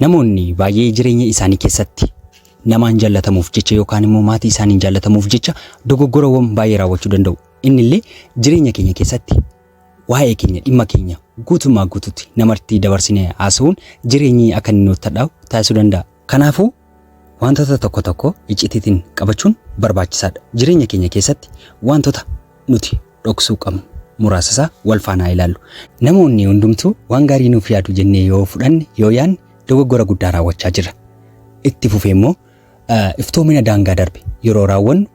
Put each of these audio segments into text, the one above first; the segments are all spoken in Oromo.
Namoonni baay'ee jireenya isaanii keessatti namaan jaallatamuuf jecha yookaan immoo maatii isaaniin jaallatamuuf jecha dogoggorawwan baay'ee raawwachuu danda'u. Inni illee jireenya keenya keessatti waa'ee keenya dhimma keenya guutummaa guututti namartii dabarsine haasa'uun jireenyi akka inni nutti hadhaa'u taasisuu danda'a. Kanaafuu wantoota tokko tokko iccitiitiin qabachuun barbaachisaadha. Jireenya keenya keessatti wantoota nuti dhoksuu qabnu muraasa isaa wal faana haa ilaallu. Namoonni hundumtuu waan gaarii nuuf yaadu jennee yoo fudhanne yoo yaanne dogoggora guddaa raawwachaa jirra. Itti fufee immoo iftoomina daangaa darbe yeroo raawwannu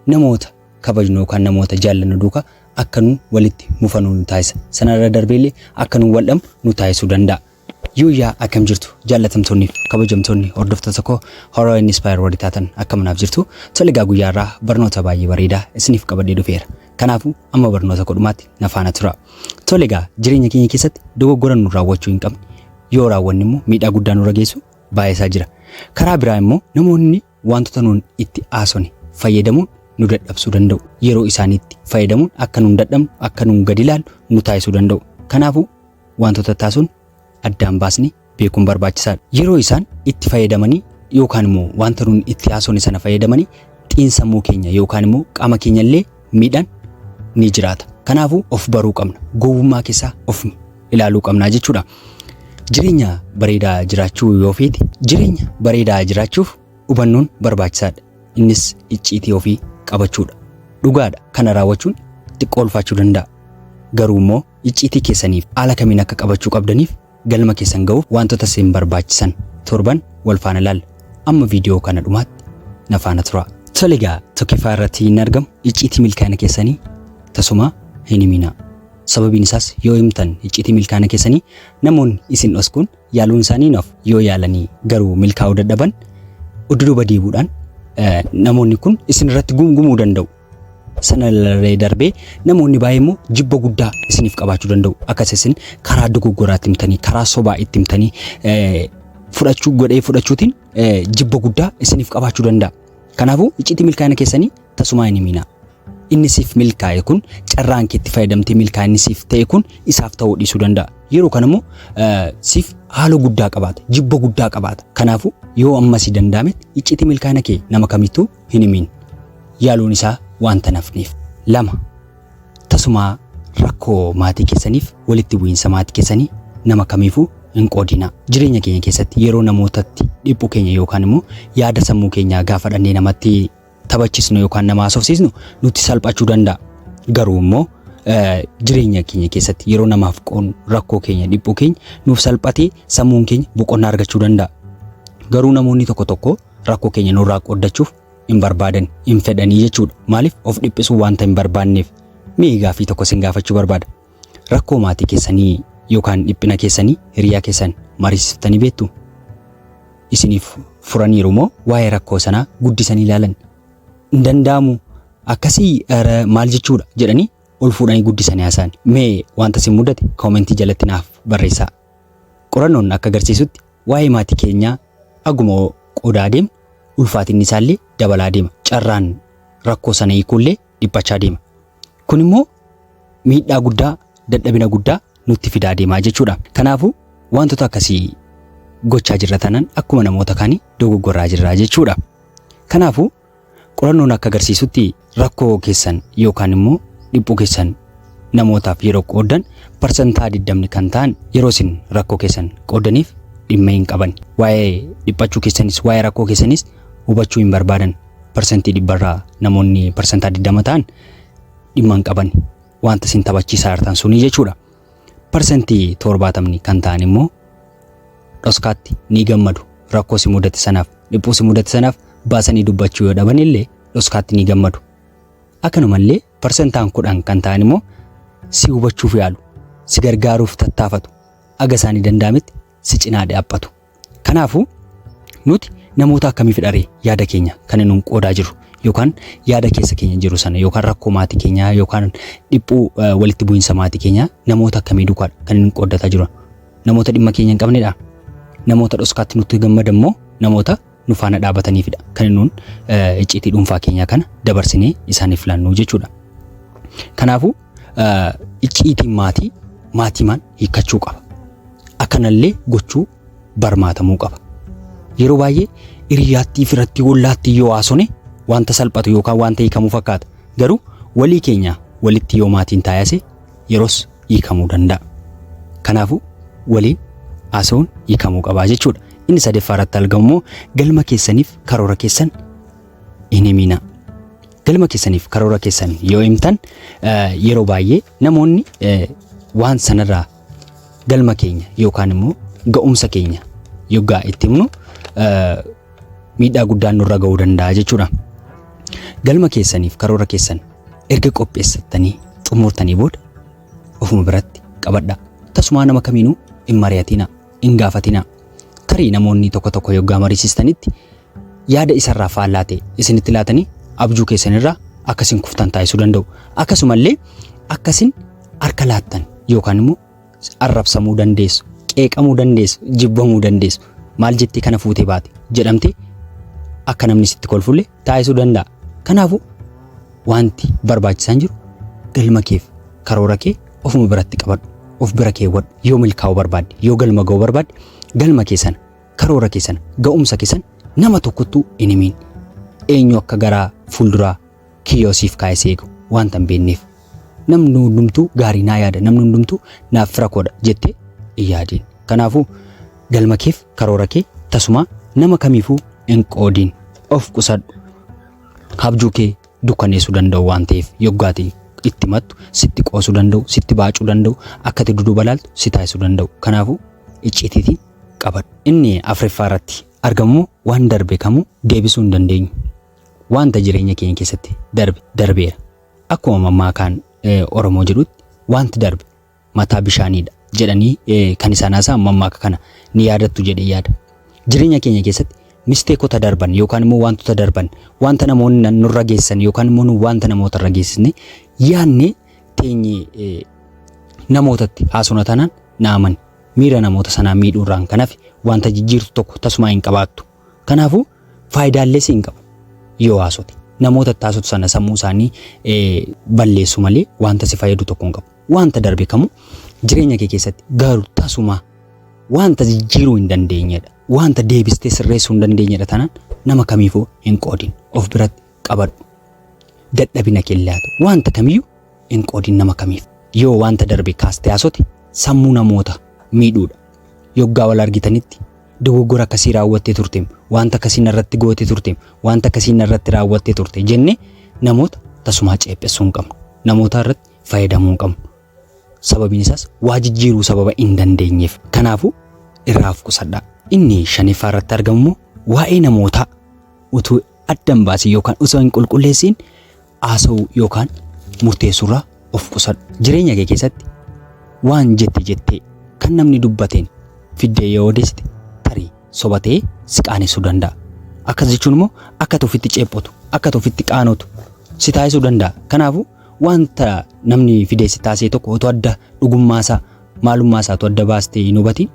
namoota kabajnu yookaan namoota jaallannu duukaa akka nu walitti mufanu nu taasisa. Sanarra darbeellee akka nu waldhamu nu taasisuu danda'a. Yooyyaa akkam jirtu jaallatamtoonni fi kabajamtoonni hordoftoota koo Horror and Inspire warri taatan akkam naaf jirtu tole egaa guyyaa irraa barnoota baay'ee bareedaa isiniif qabadhee dhufeera kanaafuu amma barnoota koo dhumaatti na faana tura tole egaa jireenya keenya keessatti dogoggora nu raawwachuu hin qabne yoo raawwanne immoo miidhaa guddaa nurra geessu baay'isaa jira karaa biraa immoo namoonni Waantota nuun itti haasofne fayyadamuun nu dadhabsuu danda'u. Yeroo isaaniitti fayyadamuun akka nuun dadhabnu, akka nuun gadi ilaallu nu taasisuu danda'u. Kanaafuu waantota itti haasofnu addaan baasnee beekuun barbaachisaadha. Yeroo isaan itti fayyadamanii yookaan immoo waanta nuun itti haasofne sana fayyadamanii xiinsammuu keenya yookaan immoo qaama keenya illee miidhan ni jiraata. Kanaafuu of baruu qabna. Gowwummaa keessaa of ilaaluu qabna jechuudha. Jireenya bareedaa jiraachuu yoo feete jireenya bareedaa jiraachuuf hubannoon barbaachisaadha. Innis icciitii ofii qabachuudha. Dhugaadha kana raawwachuun xiqqoo ulfaachuu danda'a. Garuu immoo icciitii keessaniif haala kamiin akka qabachuu qabdaniif Galma keessan ga'uuf waantota isin barbaachisan torban wal faana ilaalla. Amma viidiyoo kana dhumaatti na faana turaa. Tole egaa tokkiffaa irratti hin argamu icciitii milkaa'ina keessanii tasumaa hin himinaa. Sababiin isaas yoo himtan icciitii milkaa'ina keessanii namoonni isin dhoskuun yaaluun isaanii hin hafu. Yoo yaalanii garuu milkaa'uu dadhaban udduduuba deebuudhaan namoonni kun isin irratti gumgumuu danda'u. sana irree darbee namoonni baay'ee immoo jibba guddaa isiniif qabaachuu danda'u. Akkas isin karaa dogoggoraatti himtanii, karaa sobaa itti himtanii eh, fudhachuu godhee fudhachuutiin eh, jibba guddaa isiniif qabaachuu danda'a. Kanaafuu iccitii milkaa'ina keessanii tasumaa hin himinaa. Inni siif milkaa'e kun carraan keetti fayyadamtee milkaa'inni siif ta'e kun isaaf ta'uu dhiisuu danda'a. Yeroo kana immoo eh, siif haala guddaa qabaata, jibba guddaa qabaata. Kanaafuu yoo ammasii danda'ametti iccitii milkaa'ina kee nama kamittuu hin himin. Yaaluun isaa waanta hin hafneef. lama Tasumaa rakkoo maatii keessaniif walitti bu'iinsa maatii keessanii nama kamiifuu hin qoodinaa. Jireenya keenya keessatti yeroo namootatti dhiphu keenya yookaan immoo yaada sammuu keenyaa gaafa dhannee namatti taphachisnu yookaan nama haasofsiisnu nutti salphachuu danda'a. Garuu immoo eh, jireenya keenya keessatti yeroo namaaf qoodnu rakkoo keenya dhiphuu keenya nuuf salphatee sammuun keenya boqonnaa argachuu danda'a. Garuu namoonni tokko tokko rakkoo keenya nurraa qooddachuuf hin barbaadan, hin fedhanii jechuudha. Maaliif of dhiphisuu wanta hin barbaanneef. Mee gaaffii tokko sin gaafachuu barbaada. Rakkoo maatii keessanii yookaan dhiphina keessanii hiriyaa keessan mariisiftanii beektu? Isiniif furaniiru moo waa'ee rakkoo sanaa guddisanii ilaalan? Hin danda'amu akkasii ere maal jechuudha jedhanii ol fuudhanii guddisanii haasa'an. Mee wanta sin mudate koomentii jalatti naaf barreessaa. Qorannoon akka agarsiisutti waa'ee maatii keenyaa haguma qoodaa adeemnu ulfaatinni isaallee dabalaa deema. Carraan rakkoo sana hiikuullee dhiphachaa deema. Kun immoo miidhaa guddaa, dadhabina guddaa nutti fidaa deemaa jechuudha. Kanaafuu wantoota akkasii gochaa jirra tanan akkuma namoota kaanii dogoggoraa jirra jechuudha. Kanaafuu Qorannoon akka agarsiisutti rakkoo keessan yookaan immoo dhiphuu keessan namootaaf yeroo qooddan parsantaa 20 kan ta'an yeroo isin rakkoo keessan qooddaniif dhimma hin qaban. Waa'ee dhiphachuu keessanis waa'ee rakkoo keessanis hubachuu hin barbaadan. Parsantii dhibbarraa namoonni parsantaa 20 ta'an dhimma hin qaban. Wanta isin taphachiisaa jirtan sunii jechuudha. Parsantii torbaatamni kan ta'an immoo dhoskaatti ni gammadu. Rakkoo si mudate sanaaf, dhiphuu si mudate sanaaf baasanii dubbachuu yoo dhaban illee dhoskaatti ni gammadu. Akkanumallee parsantaan kudhan kan ta'an immoo si hubachuuf yaalu, si gargaaruuf tattaafatu, aga isaanii danda'ametti si cinaa dhaabbatu. Kanaafuu nuti namoota akkamii fidharee yaada keenya kan inni qoodaa jiru yookaan yaada keessa keenya jiru sana yookaan rakkoo maatii keenyaa yookaan dhiphuu walitti bu'iinsa maatii keenyaa namoota akkamii duukaa kan inni qooddataa jiru namoota dhimma keenya hin qabnedha namoota dhoskaatti nutti gammadan moo namoota nu faana dhaabataniifidha kan nuun icciitii dhuunfaa keenyaa kana dabarsinee isaaniif laannu jechuudha. Kanaafuu icciitiin maatii maatiimaan hiikkachuu qaba. Akkanallee gochuu barmaatamuu qaba. Yeroo baay'ee hiriyaattii firatti hollaatti yoo haasone wanta salphatu yookaan wanta hiikamu fakkaata. Garuu walii keenya walitti yoo maatiin taayase yeros hiikamuu danda'a. Kanaafuu waliin haasa'uun hiikamuu qabaa jechuudha. Inni sadeeffaa irratti argamu immoo galma keessaniif karoora keessan hin himinaa. Galma keessaniif karoora keessan yoo himtan yeroo baay'ee namoonni waan sanarraa galma keenya yookaan immoo ga'umsa keenya yoggaa itti himnu miidhaa guddaan nurra ga'uu danda'a jechuudha. Galma keessaniif karoora keessan erga qopheessattanii xumurtanii booda ofuma biratti qabadha. Tasumaa nama kamiinuu hin mari'atina, hin gaafatina. Tarii namoonni tokko tokko yoggaa mariisistanitti yaada isarraa faallaa ta'e isinitti laatanii abjuu keessanirraa akkasin kuftan taasisuu danda'u. Akkasumallee akkasin harka laattan yookaan immoo arrabsamuu dandeessu, qeeqamuu dandeessu, jibbamuu dandeessu. Maal jettee kana fuutee baate jedhamtee akka namni sitti kolfulle taasisuu danda'a. Kanaafuu wanti barbaachisaan jiru galma keef karoora kee ofuma biratti qabadhu. Of bira keewwadhu. Yoo milkaa'uu barbaadde, yoo galma ga'uu barbaadde, galma kee sana, karoora kee sana, ga'umsa kee sana nama tokkottuu hin himiin. Eenyu akka garaa fuulduraa kiyyoo siif kaa'e si eegu waanta hin beekneef. Namni hundumtuu gaarii naa yaada, namni hundumtuu naaf fira koodha jettee hin yaadiin. Kanaafuu galma keef karoora kee tasumaa nama kamiifuu hin qoodiin. Of qusadhu. Abjuu kee dukkaneessuu danda'u waan ta'eef yoggaati itti mattu sitti qoosuu danda'u, sitti baacuu danda'u, akka ati duduuba laaltu si taasisuu danda'u. Kanaafuu icciitiitiin qabadhu. Inni afraffaa irratti argamu waan darbe kamuu deebisuu hin dandeenyu. Wanta jireenya keenya keessatti darbe darbeera. Akkuma mammaakaan Oromoo jedhutti wanti darbe mataa bishaaniidha jedhanii kan isaan haasa'an mammaaka kana ni yaadattu jedhee yaada. Jireenya keenya keessatti misteekota darban yookaan immoo wantoota darban wanta namoonni nurra geessan yookaan immoo nu wanta namoota irra geessisne yaadne teenye namootatti haasofna taanaan naaman miira namoota sanaa miidhuurraan kan hafe wanta jijjiirtu tokko tasumaa hin qabaattu. Kanaafuu faayidaallee si hin qabu yoo haasote. Namoota itti haasotu sana sammuu isaanii balleessu malee wanta si fayyadu tokko hin qabu. Wanta darbe kamuu jireenya kee keessatti garuu tasumaa wanta jijjiiruu hin dandeenyedha. Wanta deebistee sirreessuu hin dandeenyedha tanan nama kamiifuu hin qoodin. Of biratti qabadhu. Dadhabina kee hin laatu. Wanta kamiyyuu hin qoodin nama kamiif. Yoo wanta darbe kaastee haasote sammuu namoota miidhuudha. Yoggaa wal argitanitti dogoggora akkasii raawwattee turteem, wanta akkasii narratti goote turteem, wanta akkasii narratti raawwattee turte jennee namoota tasumaa ceephessuu hin qabnu. Namoota irratti fayyadamuu hin qabnu. Sababiin isaas waa jijjiiruu sababa hin dandeenyeef. Kanaafuu irraa of qusadhaa. Inni shaniffaa irratti argamu immoo waa'ee namootaa utuu adda hin baasin yookaan osoo hin qulqulleessiin haasa'uu yookaan murteessuurraa of qusadhu. Jireenya kee keessatti waan jette jettee kan namni dubbateen fiddee yoo odeessite tarii soba ta'ee si qaanessuu danda'a. Akkas jechuun immoo akka ati ofitti ceephotu, akka ati ofitti qaanotu si taasisuu danda'a. Kanaafuu wanta namni fidee si taasise tokko otoo adda dhugummaasaa, maalummaasaa otoo adda baastee hin hubatiin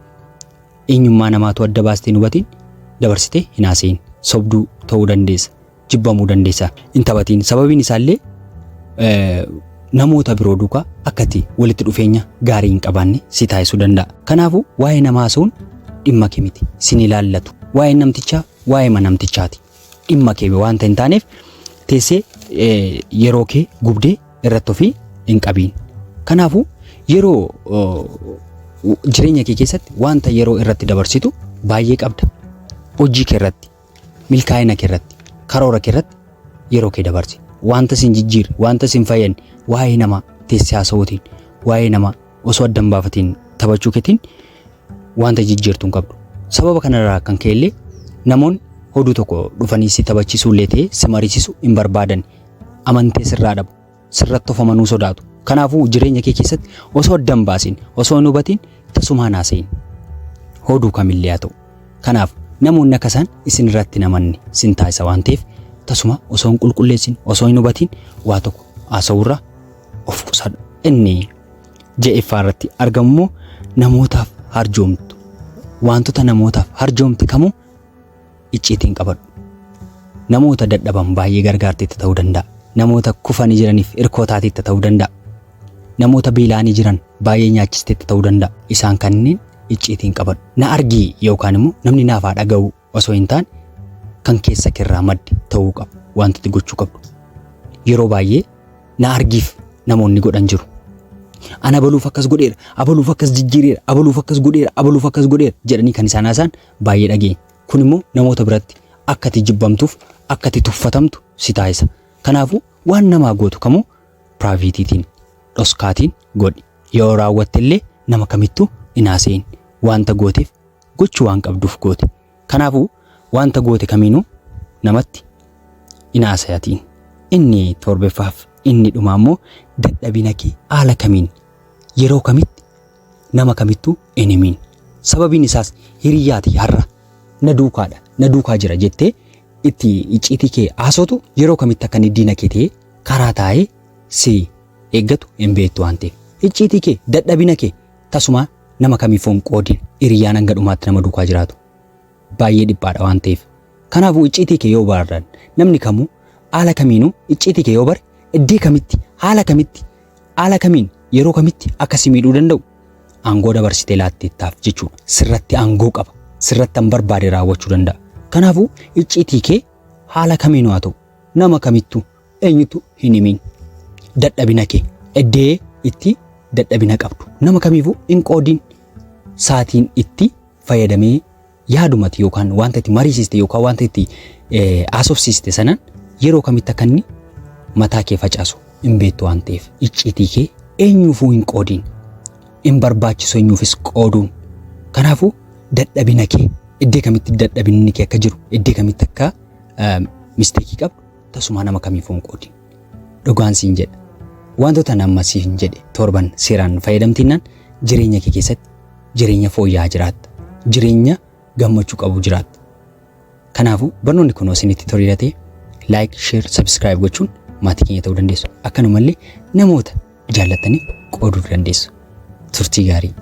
Eenyummaa namaa utuu adda baastee hin hubatiin dabarsitee hin haasa'iin. Sobduu ta'uu dandeessa. Jibbamuu dandeessa. Hin taphatiin. Sababiin isaallee eh, namoota biroo duukaa akkati walitti dhufeenya gaarii hin qabaanne si taasisuu danda'a. Kanaafuu waa'ee namaa haasa'uun dhimma kee miti. Sin ilaallatu. Waa'ee namtichaa waa'ee manamtichaati. dhimma kee wanta hin taaneef teessee yeroo kee gubdee irratti ofii hin qabiin. Kanaafuu yeroo jireenya kee keessatti wanta yeroo irratti dabarsitu baay'ee qabda. Hojii kee irratti, milkaa'ina kee irratti, karoora kee irratti yeroo kee dabarsi. Wanta sin jijjiirre, wanta sin fayyadne, waa'ee namaa teessee haasa'uutiin, waa'ee namaa osoo adda hin baafatiin taphachuu keetiin wanta jijjiirtu hin qabdu. Sababa kanarraa kan ka'e illee namoonni hoduu tokko dhufanii si taphachiisuu illee ta'ee si mariisisu hin barbaadan. Amantee sirraa dhabu. Sirratti of amanuu sodaatu. Kanaafuu jireenya kee keessatti osoo adda hin baasin, osoo hin hubatiin tasumaan haasa'iin. Hoduu kamillee haa ta'u. Kanaaf namoonni akka isaan isin irratti hin amanne sin taasisa waan ta'eef tasuma osoo hin qulqulleessin, osoo hin hubatiin waa tokko haasa'uurraa of qusadhu. Inni ja'effaa irratti argamu immoo namootaaf harjoomtu wantoota namootaaf harjoomte kamuu icciitiin qabadhu namoota dadhaban baay'ee gargaarteetta ta'uu danda'a namoota kufanii jiraniif irkoo taateetta ta'uu danda'a namoota beela'anii jiran baay'ee nyaachisteetta ta'uu danda'a isaan kanneen icciitiin qabadhu na argii yookaan immoo namni naaf haa dhaga'uu osoo hin taane kan keessa keerraa madde ta'uu qaba wanti itti gochuu qabdu. Yeroo baay'ee na argiif namoonni godhan jiru. Ana abaluuf akkas godheera, abaluuf akkas jijjiireera, abaluuf akkas godheera, abaluuf akkas godheera jedhanii kan isaan haasa'an baay'ee dhageenya. Kun immoo namoota biratti akka ati jibbamtuuf, akka ati tuffatamtu si taasisa. Kanaafuu waan namaa gootu kamuu piraayiveetiitiin, dhoskaatiin godhi. Yoo raawwatte illee nama kamittuu hin haasa'in. Wanta gooteef gochuu waan qabduuf goote. Kanaafuu wanta goote kamiinuu namatti hin haasayatiin. Inni torbeffaaf inni dhumaa immoo dadhabina kee haala kamiin yeroo kamitti nama kamittuu hin himiin. Sababiin isaas hiriyaati har'a na duukaadha na duukaa jira jettee itti icciitii kee haasotu yeroo kamitti akka inni diina kee ta'ee karaa taa'ee si eeggatu hin beektu waan ta'eef. Icciitii kee dadhabina kee tasumaa Nama kamiifuu hin qoodin. Hiriyyaan hanga dhumaatti nama duukaa jiraatu baay'ee dhiphaadha waan ta'eef. Kanaafuu icciitii kee yoo barardan namni kamuu haala kamiinuu icciitii kee yoo bare iddee kamitti haala kamitti haala kamiin yeroo kamitti akka si miidhuu danda'u aangoo dabarsitee laatteettaaf jechuudha. Sirratti aangoo qaba. Sirratti an barbaade raawwachuu danda'a. Kanaafuu icciitii kee haala kamiinuu haa ta'u nama kamittuu Eenyutu hin himin dadhabina kee eddee itti dadhabina qabdu nama kamiifuu hin qoodin saatiin itti fayyadamee yaadumati yookaan wanta itti mariisiste yookaan wanta itti haasofsiiste sanan yeroo kamitti akka inni mataa kee facaasu hin beektu waan ta'eef icciitii kee eenyuufuu hin qoodin hin barbaachisu eenyuufis qooduun kanaafuu dadhabina kee iddee kamitti dadhabinni kee akka jiru iddee kamitti akka misteekii qabdu Tasumaa nama kamiifuu hin qoodin. Dhugaan siin jedha. Wantoota ani amma siin jedhe torban seeraan fayyadamtinnaan jireenya kee keessatti jireenya fooyya'aa jiraatta. Jireenya gammachuu qabu jiraatta. Kanaafuu barnoonni kun isinitti toleera ta'e like, share, subscribe gochuun maatii keenya ta'uu dandeessu. Akkanumallee namoota jaallattaniif qooduu dandeessu. Turtii gaarii.